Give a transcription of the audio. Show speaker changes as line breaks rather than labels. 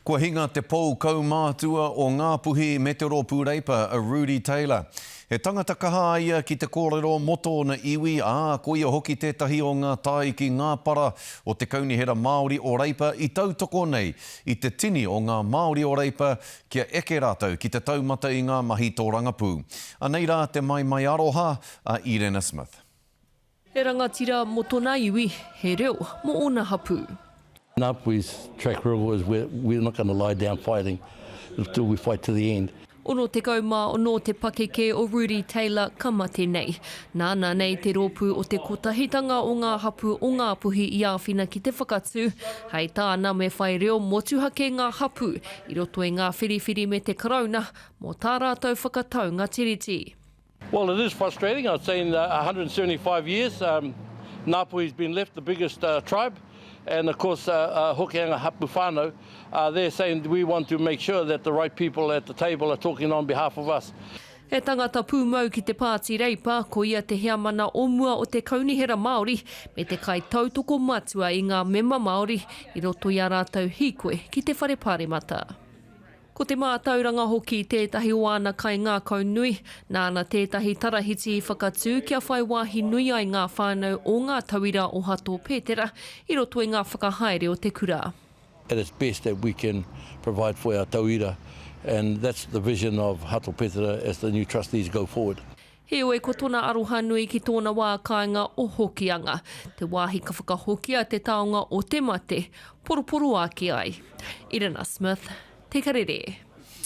Kua hinga te pou kaumātua o Ngāpuhi me te Rōpū Reipa, a Rudi Taylor. He tangata kaha a ia ki te kōrero mō tōna iwi, ā, ko ia hoki tētahi o ngā tāiki ngāpara o te Kaunihera Māori o Reipa i tautoko nei i te tini o ngā Māori o Reipa kia eke rātou ki te taumata i ngā mahi tōrangapū. Anei rā te maimai aroha a Irena Smith. He
rangatira mo tona iwi, he reo mo ona hapu. Enough with
track rivers we we're not gonna lie down fighting until we fight to the end. Ono tekau ma
ono te pakeke o Rudi Taylor ka mate nei. Nana nei te ropu o te kotahitanga o nga hapu o Ngapuhi i awhina ki te whakatu. Hai tana me whai reo motuhake nga hapu i roto i nga whiriwhiri me te Karauna mo ta ratou whakataunga tiriti. Well it is
frustrating I've seen 175 years um Ngāpuhi has been left the biggest uh tribe and of course uh uh Hokianga hapu whānau uh they're saying we want to make sure that the right people at the table are talking on behalf of us. He tangata
pūmau ki te Pāti Reipa, ko ia te heamana o mua o te Kaunihera Māori me te kaitautoko matua i ngā mema Māori i roto i ā rātou hīkoi ki te Whare Pāremata. Ko te mātauranga hoki tētahi o āna kaingākau nui, nāna tētahi tarahiti i whakatū kia whai wāhi nui ai ngā whānau o ngā tauira o Hato Pētera i roto i ngā whakahaere o te kura. At its best
that we can provide for our tauira and that's the vision of Hato Pētera as the new trustees go forward. Heoi, ko tona
aroha nui ki tōna wā kāinga o Hokianga, te wāhi ka whakahokia te taonga o te mate, poroporoaki ai. Irina Smith, Te Kererē.